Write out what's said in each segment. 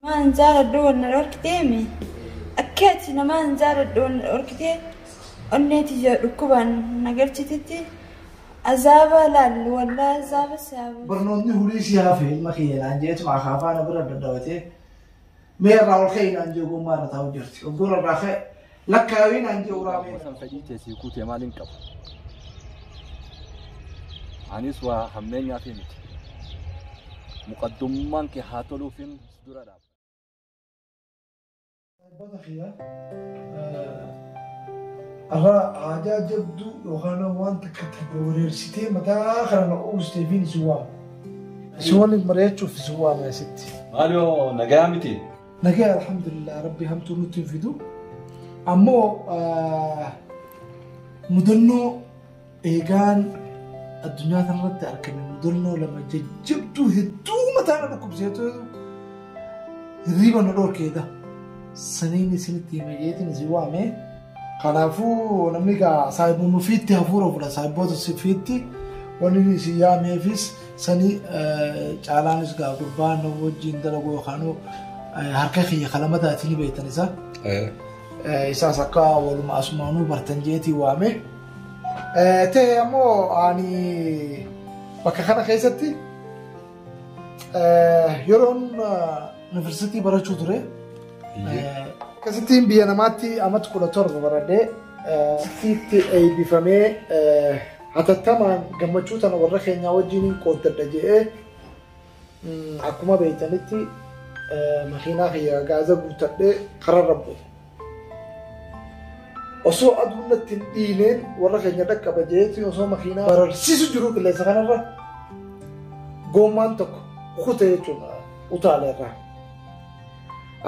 Namaa hin jaaladhu wanna dhorkitee mi? Akkeetti namaa hin jaaladhu wanna dhorkitee onnee tiyya dhukkubaan na galchititti azaaba laallu wallaa azaaba si haa buusu. barnootni hulii si hafe ilma kiyya naan jeetu akaafaa na bira dadhabatee mee irraa ol ka'ii naan jee ogummaa irra taa'u jirti oggora irraa ka'e Lakkaawii naan jee uraa Ammoo san fedhii kee sii guutee maal hin qabu. Anis waa hammeenyaa fi miti. Muqaddummaan kee haa toluufin si dura dhaaba. Abbata kiyya irraa aadaa jabduu yookaan waan takka takka wareersitee mataa kana na uwwistee fi si waama. Si waliin mari'achuuf si waama asitti. Maaloo nagaa miti. Nagaya alhamdulillah rabbi hamtuu nutti hin fidu. Ammoo ah, mudannoo eegaan addunyaa kanarratti argame mudannoo lama jajjabduu hedduu mataa na dhukkubseetu hirriba na dhorkeedha. Saniin isinitti hime jeetiin isin waamee. Kanaafuu namni egaa saayibboon ofiitti hafuura fudha saayibboota ofiitti wanni isin yaameefis sanii caalaanis egaa gurbaa nama wajjin dalaguu yookaan harka kiyya kalamataa isin beektan isaa. Isaas akka waluma asumaanuu bartan jeetii waame. Ta'e ammoo ani bakka kana keessatti Yeroon yuunivarsiitii barachuu ture. Akkasittiin biyya namaatti amata kudha torba baradhee asitti eebbifamee hatattamaan gammachuu tana warra keenyaa wajjin qooddadha jedhee akkuma beektanitti makiinaa kiyya gaaza guuttadhee kararra bu'e. Osoo aduun natti hin dhiineen warra keenya dhaqqaba jeetiin osoo makiinaa bararsiisu jiru qilleensa kanarra goommaan tokko kute jechuudha utaale irraa.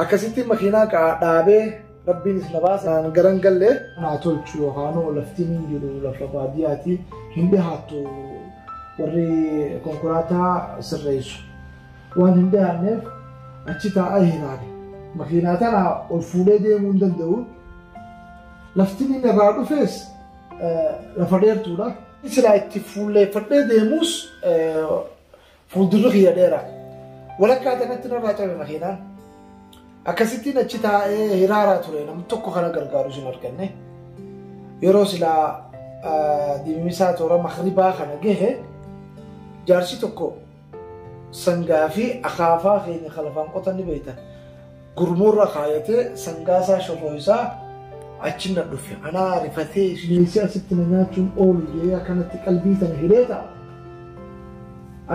Akkasitti makiinaa qaa- dhaabee rabbiinis na baase naan garan gallee naa tolchu yookaan laftiin hin jiru lafa baadiyyaati hin dhihaattu warri konkolaataa sirreessu. Waan hin dhiyaanneef achi taa'aa ilaale. Makiinaa tana ol fuudhee deemuu hin danda'u. Lafti inni irraa dhufees lafa dheertuudha. Silaa itti fuulleeffadhee deemuus fuuldurri kiyya dheera. Walakkaa kanatti narraa cabe makiinaan. Akkasittiin achi taa'ee hiraaraa ture namni tokko kana gargaarus hin arganne. Yeroo silaa dimisaa toora makribaa kana gahe jaarsi tokko Sangaa fi akaafaa keenya kan lafaan qotan ni beektan. Gurmuurra kaayatee sangaa isaa shorroo isaa achi na dhufe. Anaa rifatee bineensi asitti na nyaachuun oolu jedhee akkanatti qalbii sana hidhee ta'a.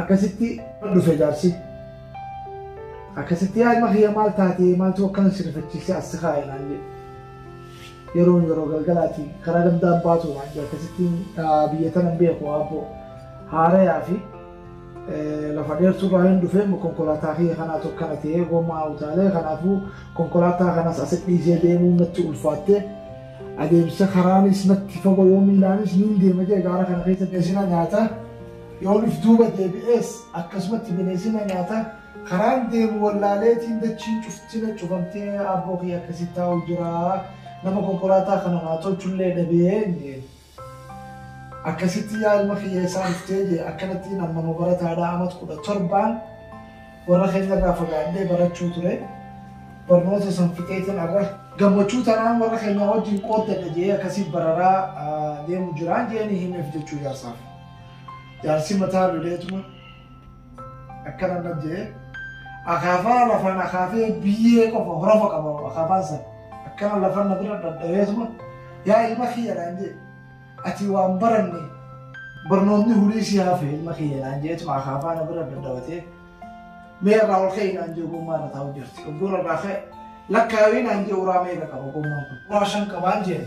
Akkasitti dhufe jaarsi. Akkasitti yaa ilma kiyya maal taatee maaltu akkana si rifachiisee as si kaa'e naan jedhe. Yeroon yeroo galgalaati karaa gandaan baatu naan jedhe akkasitti biyya tana hin beeku aabboo haarayaa fi Lafa dheertuu irraa hin dhufee konkolaataa kiyya kanaatu akkana ta'ee gomaa utaalee kanaafuu konkolaataa kanas asi dhiisee deemuun natti ulfaattee adeemsa karaanis natti fagoo yoo miilaanis niin deema jee gaara kana keessa beesina nyaata yoo dhuf duuba deebi'ees akkasumatti bineesina nyaata karaan deemu wallaaleetiin dachiin cuftina cufamtee abboo kiyya akkasitti taa'u jira nama konkolaataa kana naa tolchullee dhabee Akkasitti yaa ilma kiyya eessaa dhuftee jee akkanattiin amma nu barataadhaa amat kudha torbaan warra keenya irraa fagaadhee barachuu ture barnoota san fixeetiin arra gammachuu tanaan warra keenya wajjin qooddadha jee akkasii bararaa deemu jiraan jeeni himeef jechuu jaarsaaf jaarsi mataa loleetuma akkana nan jedhee akaafaa lafaan akaafee biyyee qofa horofa qaba akaafaan san akkana lafan na bira dhadhabeetuma yaa ilma kiyya naan jedhe ati waan baranne barnoonni hulii si hafe ilma kiyya naan jedheetuma akaafaa na bira dhadhabatee mee irraa ol ka'e naan jedhe ogummaa irra taa'u jirti ogummaa irraa ka'e lakkaawii naan jedhe uraa meeqa qaba ogummaan kun uraa shan qabaan jedhe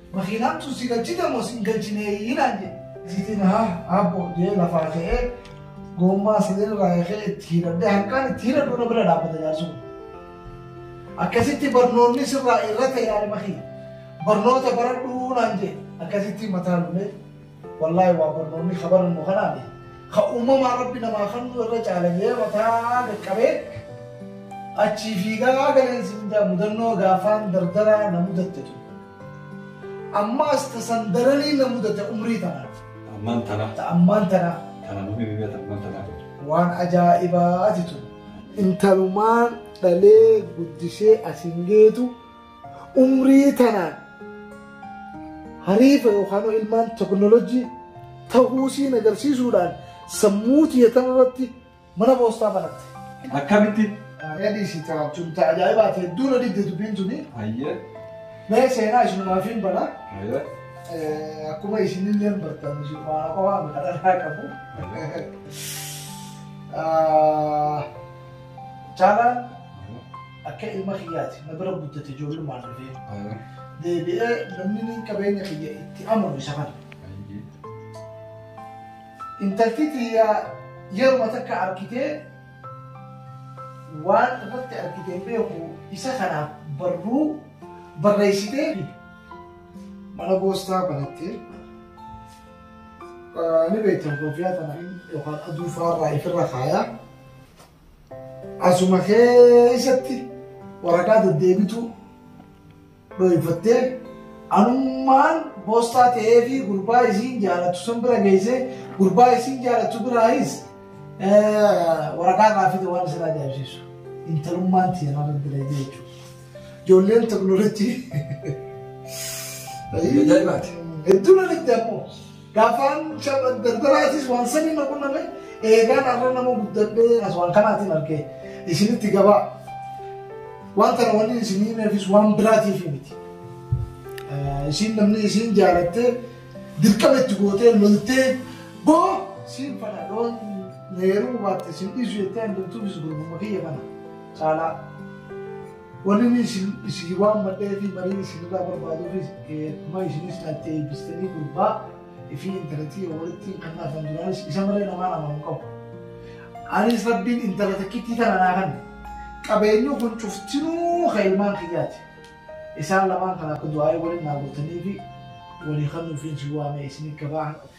Makiinaan tun si galchite moo sin galchineeyii naan jedhe. Isiitiin haa aabbo jee lafaa ka'ee goommaa sadeen irraa yakee itti hidhadhee hanqaan itti hidhadhu na bira dhaabbata jaarsi kun. Akkasitti barnoonni sirraa irra ta'e yaada makii. Barnoota baradhuu naan jedhe akkasitti mataa lullee. Wallaahi waa barnoonni ka barannu kanaani ka uumamaa rabbi namaa kannuu irra caala jee mataa gaqqabee achii fiigaa galeen si mindaa mudannoo gaafaan dardaraa na mudatte tun ammaas ta san daranii na mudatte umrii tanaa Ammaan tana. ta ammaan tanaa Kana namni biyya tan ammaan tanaa qabdu. waan ajaa'ibaati tun intalumaan dhalee guddisee asin geetu umrii tanaan hariifa yookaan ilmaan teknolojii ta'uu siin agarsiisuudhaan sammuu tiyya tanarratti mana poostaa banatte. Akkamitti? Yaadii si taphaachuun ta'a ajaa'ibaati hedduu na didde dubbiin tuni. Hayyee. Mee seenaa isinumaaf hin bana. Hayyee. Akkuma isinillee hin bartan isinumaa qofaa miti kadhannaa qabu. Caalaan Akka ilma kiyyaati na bira guddate ijoollumaan dhufee. Ayi. Deebi'ee namni niin qabeenya kiyya itti amanu isa kana. Ayi. Intalti tiyya yeruma takka argitee waan irratti argite hin beeku isa kanaaf barruu barreessitee fi mana goostaa banattee ni beektan koofiyaa tana yookaan aduu faarraa ifirra kaayaa Asuma keessatti waraqaa deddeebituu dhooyfattee anummaan boostaa ta'ee fi gurbaa isiin jaalatu san bira geessee gurbaa isiin jaalatu biraayis waraqaa irraa fide waan isin ajaa'ibsiisu. Intalummaan tiyya nama bira jechuudha. Ijoolleen teknoolojii. Ajaa'ibaati. Hedduu na dhibde ammoo. Gafaan shaba daldalaatis waan saniin na qunname eegaan arra nama guddadhee as waan kanaatiin argee isinitti gabaa waan tana waliin isinii neefis waan biraatiif miti. Isin namni isin jaalattee dirqama itti gootee loltee boo siin fana loon neeruu baatte isin dhiisu jettee handurtuufis gurgurma kiyya kana caalaa. Wanni isin isin waammadhee fi marii isinirraa barbaaduufis kuma isinis natti eebbistanii gurbaa fi intalatti yoo walitti hin kannaafan duraanis isa malee namaan amanu qabu. Anis rabbiin intala takkittii tana naa kanne. Qabeenyi kun cuftinuu kan ilmaan kiyyaati. Isaan lamaan kana akka du'aa'ee waliin naa gootanii fi walii kannuufiin si waamee isin gabaa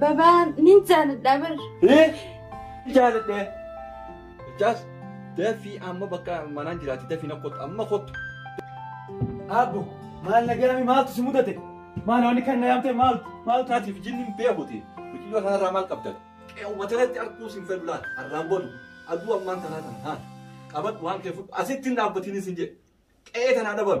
Babaa ni jaaladha bar. Jaaladhee. Jaas dafii amma bakka manaan jiraatti dafii na kottu amma kottu. Abbo maal nagaami maaltu si mudate? Maal wanni kan na yaamte maaltu maaltu ati fi jinni hin beekuti. Biqiltuu kanarraa maal qabdan? Qe'uma tanatti arguu sin fedhu laata? Arraan boodu aduu ammaan tanaa tana haa qabadhu waan kee fudhu asitti hin dhaabbatiin isin jedhe. Qe'ee tanaa dhaban.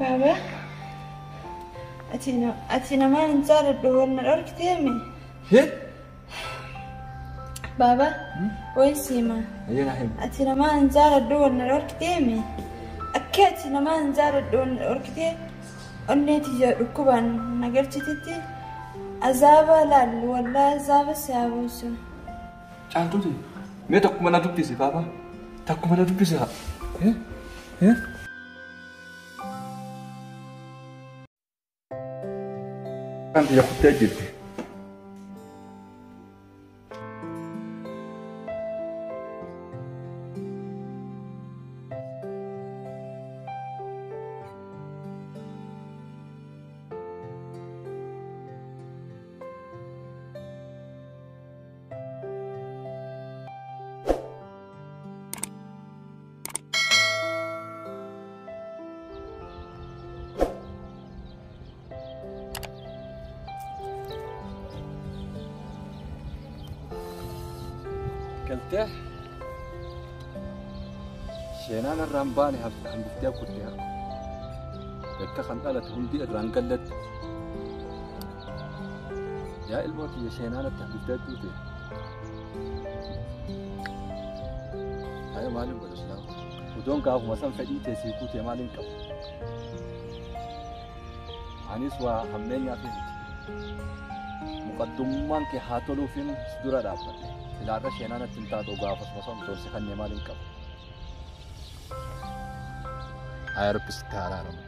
Baaba, ati namaan hin jaaladhu waan na dhorkiteemi. Baaba, wayi siima. Ati namaan hin jaaladhu waan na dhorkiteemi. Akka ati namaan hin jaaladhu waan na dhorkitee onnee tiyya dhukkubaan na galchitetti azaaba laallu wallaahi azaaba si haa buusu. Caaltuuti mee takkuma na dubbisi baaba takkuma na dubbisi haa. Eh? Eh? Kan biyya kuttee jirti. galtee sheenaan irraan baane hafte hambiftee kutte harka kan dhalate hundi irraan gallatti Yaa ilmoo kiyya sheenaa natti hafifte jechuu ta'e. Haaya maaliin godha silaa? Utuun gaafuma san fedhii ta'e sii guutee maaliin qabu? Anis waa hammeenyaa fi miti. Muqaddummaan kee haa toluufiin si dura dhaabbadhe. Silaarra sheenaa natti hin taatu gaafasuma san utuun si kannee maaliin qabu? Haaya rabbi sitti haa araaramu.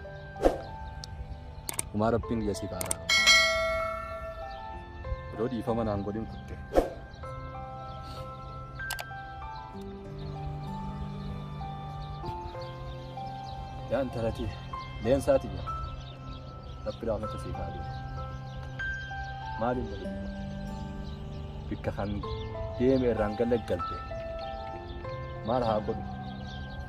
Umaa rabbiin kiyya siif haaraa. Odoo dhiifama naan godhin kutte. Yaa intalati leensaati jira. Rabbi raafata siif haa deemu. Maali intalati? Bikka kan deeme irraan gallaggalte. Maal haa godhu?